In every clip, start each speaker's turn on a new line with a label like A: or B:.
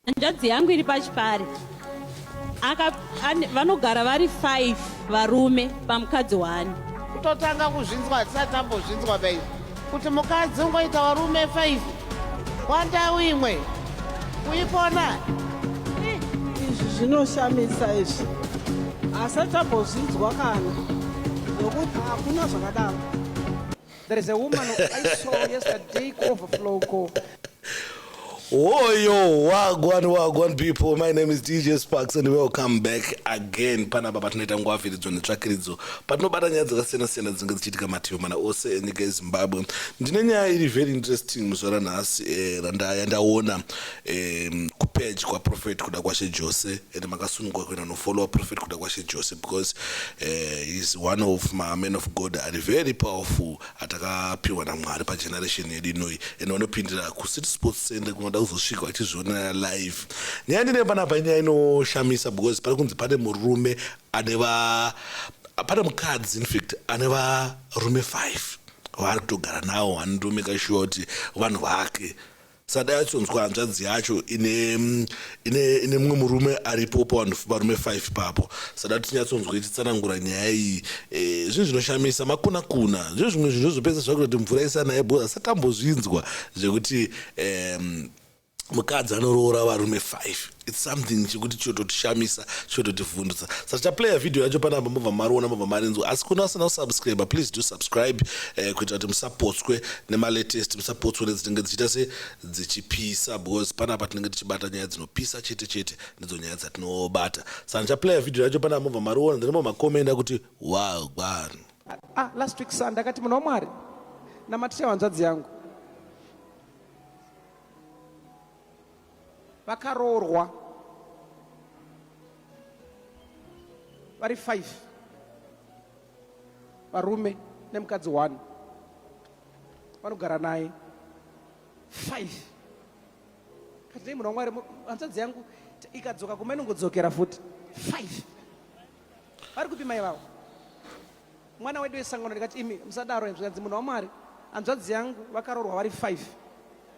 A: Hanzvadzi yangu iri pachipare vanogara vari five varume pamukadzi wani kutotanga
B: kuzvinzwa hatisati tambozvinzwa bai kuti mukadzi ungoita varume five wandau imwe kuipona
C: izvi zvinoshamisa izvi asati tambozvinzwa kana nokuti hakuna zvakadaro There is
D: a woman I saw yesterday ku overflow ko. Woyo wagwan wagwan people my name is DJ Sparks and welcome back again panapa patinoita nguva viridzo netsvakiridzo patinobata nyaya dzakasiyana siyana dzinenge dzichiitika mativi mana ose enyika yeZimbabwe ndine nyaya iri very interesting muzuva ranhasi eh, randa- yandaona um, kupage kwaprophet kuda kwashe jose and makasunungwa kuenda nofollowa prophet kuda kwashe jose because uh, heis one of maman of god ari very powerful atakapiwa namwari pageneration yedu inoi and vanopindira kucity sports center kunoda kuzosvika vachizvionera live nyaya ndine panapa inyaya inoshamisa because pari kunzi pane murume ane va pane mukadzi infact ane varume five vaari kutogara nawo andirume kashuwa kuti vanhu vake sadai achonzwa hanzvadzi yacho ine mm, ine ine mumwe murume aripo pavanhu varume 5 papo sada tinyatsonzwa ichitsanangura nyaya iyi eh, zvinhu zvinoshamisa makuna kuna zvinhu zvimwe zvinhu zvozopesa zvakuita kuti mvura isanaye bhoza asatambozvinzwa zvekuti em, mukadzi anoroora varume 5 its something chekuti chototishamisa chototivhundutsa saka taplaya vhidhiyo yacho panapa mobva mariona mobva marinzwa asi kune vasina kusubscribe please do subscribe eh, kuita kuti musapotswe nemalatest musapotswe nedzinenge dzichiita se dzichipisa because panapa tinenge tichibata nyaya dzinopisa chete chete ndidzo nyaya dzatinobata saka ndichaplaya vhidhiyo yacho panapa mobva mariona then momakomenda kuti wagwan ah, last week
C: sunday akati munhu wamwari namaticha wanzvadzi yangu vakaroorwa vari five varume nemukadzi one vanogara naye five katei munhu wamwari hanzvadzi yangu ikadzoka kuma inongodzokera futi five vari kupi mai vavo mwana wedu wesangano ndikati imi musadaro zvikanzi munhu wamwari hanzvadzi yangu vakaroorwa vari five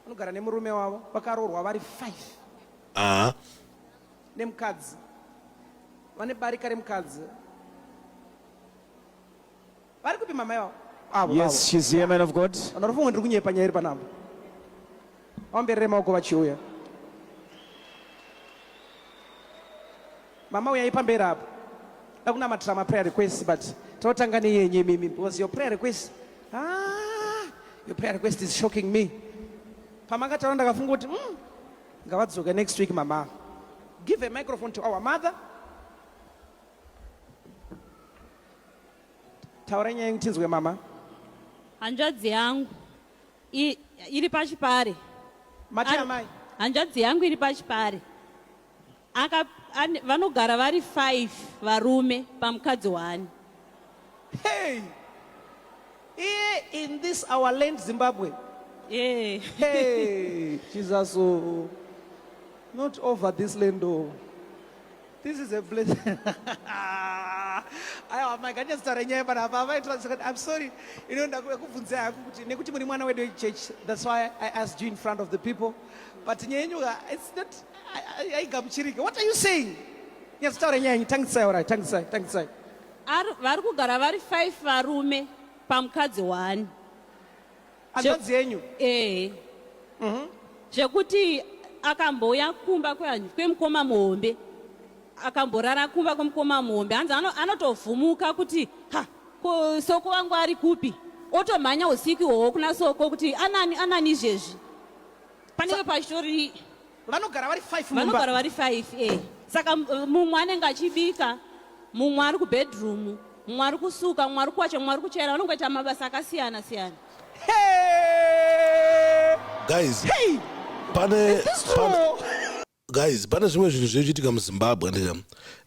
C: vanogara nemurume wavo vakaroorwa vari five uh-huh. nemukadzi vane barika remukadzi vari kupi mama yavo yes she's here man
E: of god vanofunga ndiri kunyepa nyaya
C: iri panapa Vaomberere maoko vachiuya. Mama uyai pamberi apo. Dakunamatira ma prayer requests but totanga neyenyu imimi because your prayer request ah, your prayer request is shocking me. Pamakataura ndakafunga kuti mm, ngavadzoke next week mama. Give a microphone to our mother. Taura nyaya tinzwe mama. Hanzvadzi
A: yangu I, iri pachipare mati
C: amai hanzvadzi yangu iri
A: pachipare aka an, vanogara vari five varume pamukadzi wani
C: hey iye in this our land zimbabwe yeah.
A: hey
C: jesus oh. not over this land oh. This is a blessing. Aiwa mai ganya zita renyaya pana apa vaitira kuti I'm sorry. You know ndakubvunza haku kuti nekuti muri mwana wedu church that's why I asked you in front of the people. But nyaya yenyu it's not aigamuchirike. What are you saying? Nyaya zita renyaya yenyu tangisai orai tangisai tangisai.
A: Vari kugara vari 5 varume pamukadzi one.
C: hanzvadzi yenyu ehe mhm.
A: zvekuti akambouya kumba kwemukoma muhombe akamborara kumba kwemukoma muhombe hanzi anotovhumuka kuti ha ko soko wangu ari kupi otomhanya usiku ihwohwo kuna soko kuti anani anani izvezvi panenge pachitori vanogara vari
C: five mumba. vanogara vari five
A: eh. saka uh, mumwe anenge achibika mumwe ari kubedroom mumwe ari kusuka mumwe ari kuwacha mumwe ari kuchaira vanongoita mabasa akasiyana siyana Hey!
C: guys Hey! pane Is this pane-
D: true? guys pane zvimwe zvinhu zvinochiitika muzimbabwe ndika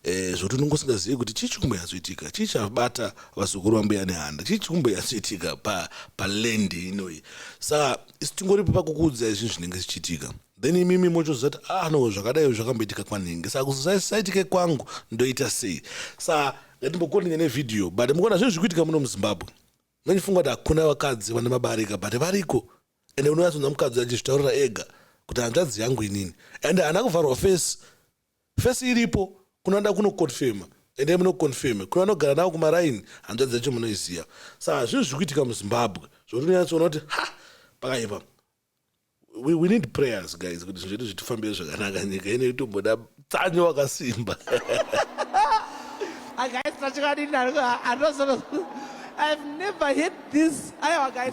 D: eh, zvoti unenge usingazivi kuti chii chikumbo yazoitika chii chabata vazukuru vambuya nehanda chii chikumbo yazoitika pa, pa land inoyi saka isi tingoripo pakukuudza izvi zvinenge zvichiitika then imimi mochoziva kuti ah no zvakadai zvakamboitika kwanhingi saka kuzisaitike kwangu ndoita sei sa ngatimbokondinya nevhidhiyo but mukuona zvinhu zviri kuitika muno muzimbabwe mandifunga kuti hakuna vakadzi vane mabarika but variko ende unoyatsonza mukadzi achizvitaurira ega kuti hanzvadzi yangu inini ende haana kuvharwa face Face iripo kune vanoda kuno confirmer endai muno confirmer kune vanogara navo kumaraini hanzvadzi yacho munoiziva sa hazvinhu zviri kuitika muzimbabwe zvokuti unonyatsoona kuti ha pakaipa we, we need prayers guys kuti zvinhu zvedu zvitifambire zvakanaka nyika ine itomboda tsanyo wakasimba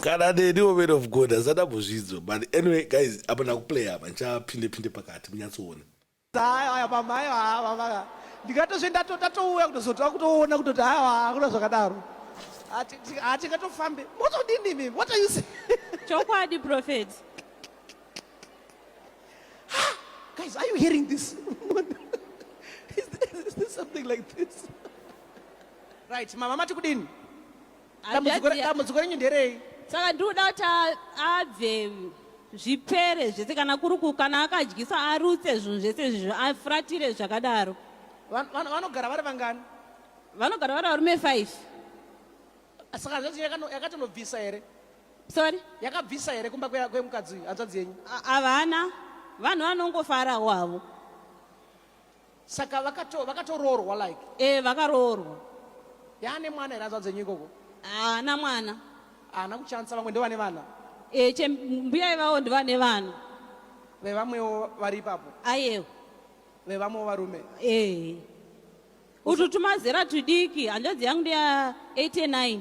C: kana neniwo man
D: of god asada buzvidzo but anyway guys apa ndakuplaya apa ndichapinde pinde pakati munyatsoona Aya pamai ava
C: ndikatozve ndatouya kutozotova kutoona kutoti aiwa hakuna zvakadaro hatingatofambe motodini mimi what are you saying chokwadi
A: prophet
C: guys are you hearing this is, this, is this something like this right mama mati kudini Dambudziko re- Hanzvadzi- dambudziko renyu nderei saka ndikuda kuti a-
A: abve zvipere zvese kana kuri ku- kana akadyisa arutse zvinhu zvese izvizvo afuratire zvakadaro Van- van- vanogara
C: vari vangani vanogara vari
A: varume five
C: saka hanzvadzi yenyu yakano- yakatonobvisa here sorry
A: yakabvisa here
C: kumba kwe- kwemukadzi uyu hanzvadzi yenyu A- havana
A: vanhu vanongofarawo havo
C: saka vakato vakatoroorwa like eh vakaroorwa
A: yaane
C: mwana here azvadze nyiko ko haana mwana
A: haana kuchanisa
C: vamwe ndovane vana eh che mbuya
A: ivavo ndovane vana vevamwewo
C: vari ipapo ayewo
A: vevamwewo
C: varume eh utu
A: tumazera tudiki hanzvadzi yangu ndeya 89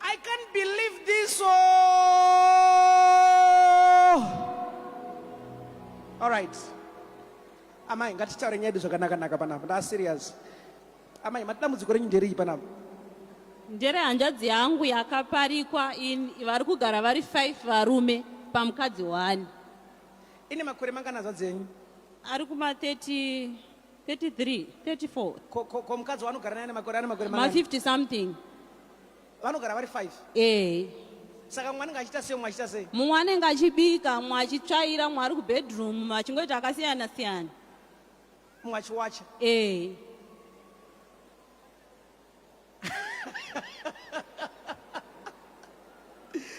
C: I can't believe this. Oh. All right. Amai ngatitaure nyedu zvakanaka naka panapa. Nda serious. Amai matidambudziko renyu nderei panapa? Ndere
A: hanzvadzi yangu yakaparikwa in vari kugara vari 5 varume pamukadzi one. Ine
C: makore mangana zvadzo yenyu? Ari kuma
A: 30 33 34 ko ko ko
C: mukadzi wanogara naye nemakore ane makore ma mangani 50 something
A: vanogara
C: vari 5 eh saka mwana ngachita sei mumwe achita sei mumwe anenge achibika
A: mumwe achitsvaira mumwe ari kubedroom mumwe achingoita akasiyana siyana mumwe
C: achiwacha eh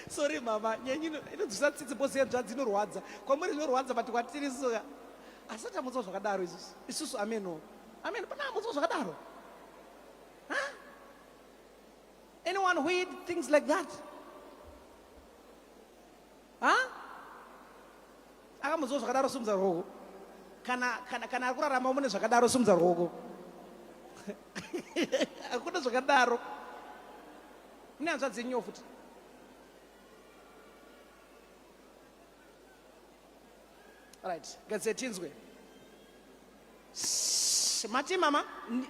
C: sorry mama nyenyi inodzvisa tsitsi bose yenzvadzi inorwadza kwamuri zvinorwadza but kwatiri soka asati amutswa zvakadaro isusu isusu ameno ameno pana amutswa zvakadaro anyone who eat things like that ha akamuziwa zvakadaro simudza ruoko kana kana kana ari kurarama mune zvakadaro simudza ruoko hakuna zvakadaro mune hanzvadzi yenyiwo futi Right. Gadze tinzwe. Mati mama,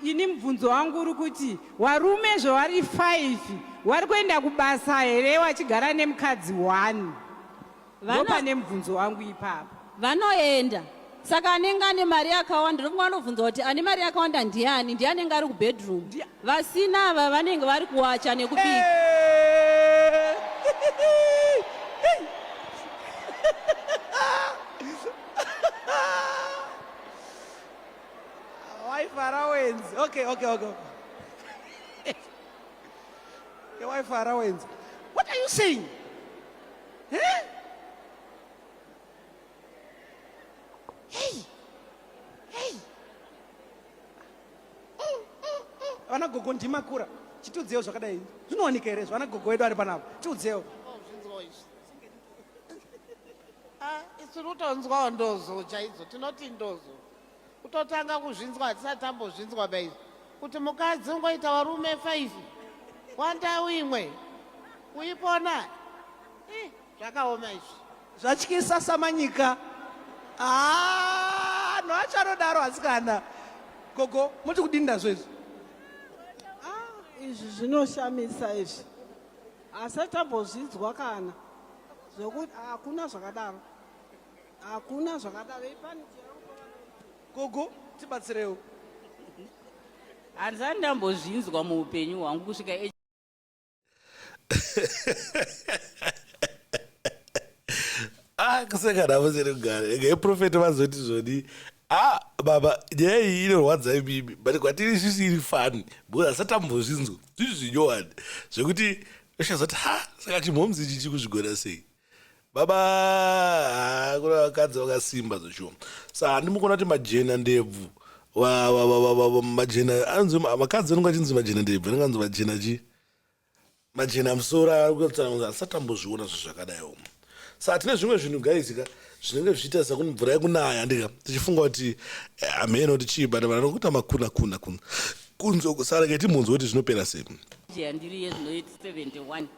C: ini mubvunzo
E: wangu uri kuti warume zvavari 5 wari kuenda kubasa here wachigara nemukadzi 1? Vano... Ndopane mubvunzo wangu ipapo. Vanoenda.
A: Saka anenge ane mari yakawanda, ndofunga anobvunza kuti ane mari yakawanda ndiani? Ndiani anenge ari kubedroom? Ndiani? Vasina ava vanenge vari kuwacha nekubika.
C: Waifarawenzi. Okay, okay, okay. Waifarawenzi. What are you saying? Huh? vana gogo ndimakura chitiudzewo zvakadai zvinowanika here zvana gogo wedu ari panapa tiudzewo
B: ah, isu kutonzwawo ndozo chaidzo tinoti ndozo kutotanga kuzvinzwa hatisati tambozvinzwa baizo kuti mukadzi ungoita varume five wandau imwe kuipona zvakaoma izvi zvatyisa
C: samanyika ah, no achanodaro asikana gogo moti kudini ndazvo izvi ah, izvi
F: zvinoshamisa izvi asi tambozvidzwa kana zvekuti hakuna zvakadaro hakuna zvakadaro
C: ipani
F: gogo
C: tibatsirewo
E: hanzani ndambozvinzwa muupenyu hwangu kusvika
D: akuseka ah, navo seri kugara ega iprofeti vazoti zvoni a ah, baba nyaya iyi inorwadza imimi but kwatiri sisi iri fani because asatambozvinzwa zvizvi zvinyowani zvekuti ushazoti ha saka chimhomzi ichi chikuzvigona sei baba ah, kuna vakadzi vakasimba zveshuwa sa handimukona kuti majena ndebvu majena anzi vakadzi vanenge achinzi majena ndebvu anenge anzi majena chii majena musoro akutsananguza asati ambozviona zvinhu zvakadai omo sa tine zvimwe zvinhu gaizika zvinenge zvichiita seku mvura yekunaya ndika tichifunga kuti eh, hameno kuti chii but vanhu vanokuita makuna kuna kuna kunzwa kusara keti munzwa kuti zvinopera sei ndiri yezvinoiti
E: 71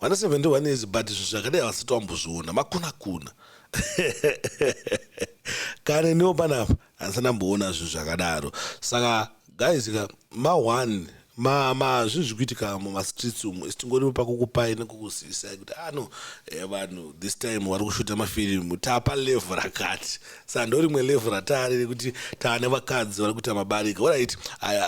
D: vana 71 years but zvinhu zvakadai havasati vambozviona makuna kuna kana iniwo panapa handisati ndamboona zvinhu zvakadaro saka guys ka ma1 mazvinhu zviri kuitika mumastreets umu isi tingoripo pakukupai nekukuzivisai kuti ano ah, eh, vanhu this time vari kushuta mafirimu tapa level rakati saa ndorimwe level rataari rekuti taane vakadzi vari kuita mabarika orit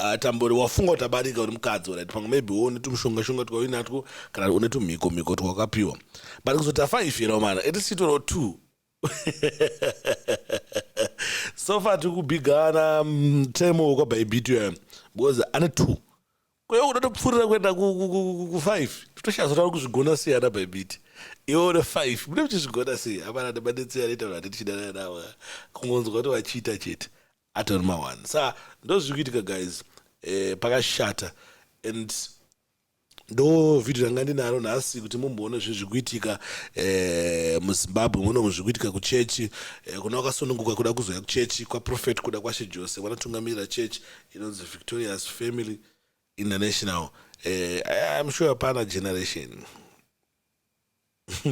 D: atambori wafunga kuti abarika uri mukadzi orit pamwe maybe wo une tumushonga shonga twauinatwo kana une tumhiko mhiko twawakapiwa but kuzoti afaifirawo mana at least chitoro two so far tiri kubigana mutemo mm, wekwabaibitio because ane two Kwewe unotopfurira kuenda kufive totoshazora uri kuzvigona sei ana bhaibiti iwe une five mune muchizvigona sei hapana nemadetsei anoita vanhu ati tichidanana navo kungonzwa kuti vachiita chete atori mawani sa ndozviri kuitika guys eh, pakashata and ndo vhidhio ranga ndinaro nhasi kuti mumboona zvinhu zviri kuitika eh, muzimbabwe muno zviri kuitika kuchechi eh, kuna wakasununguka kuda kuzouya kuchechi kwaprofet kuda kwashe jose vanotungamirira chechi inonzi victorious family international eh, im sure pana generation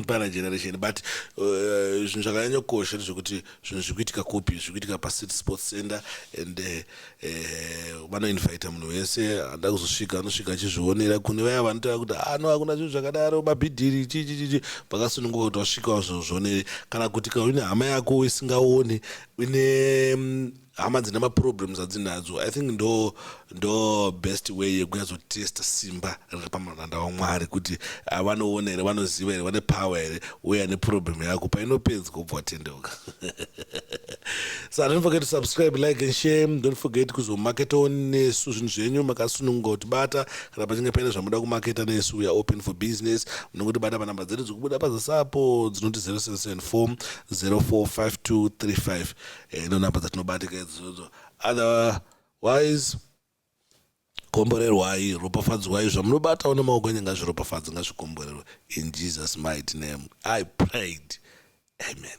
D: pana generation but eh, zvinhu uh, zvakanyanyokosha ndezvekuti zvinhu zviri kuitika kupi zviri kuitika pacity sports center and eh, eh, vanoinvita uh, uh, munhu wese anoda kuzosvika anosvika achizvionera kune vaya vanotaura kuti ano ah, hakuna zvinhu zvakadaro mabhidhiri chichichichi vakasununguka kuti vasvika vazvozvionere kana kuti kaune hama yako isingaoni une mm, hama dzine maproblems adzinadzo i think ndo ndo best way yekunyazotesta simba riri pamaranda wamwari kuti ah, vanoona here vanoziva here vane power here uye ane problem yako painopedza kubva watendeuka so don't forget to subscribe like and share don't forget kuzomarketa nesu zvinhu zvenyu makasununguka kutibata kana pachinge paine zvamuda kumarketa nesu we are open for business munongotibata panhamba dzedu dzikubuda pazasapo dzinoti 0774 045235 eh, ndo number dzatinobatika idzodzo otherwise komborerwai ropafadzwai zvamunobatawo nemaoko enyu ngazviropafadzi ngazvikomborerwe in jesus mighty name i prayed amen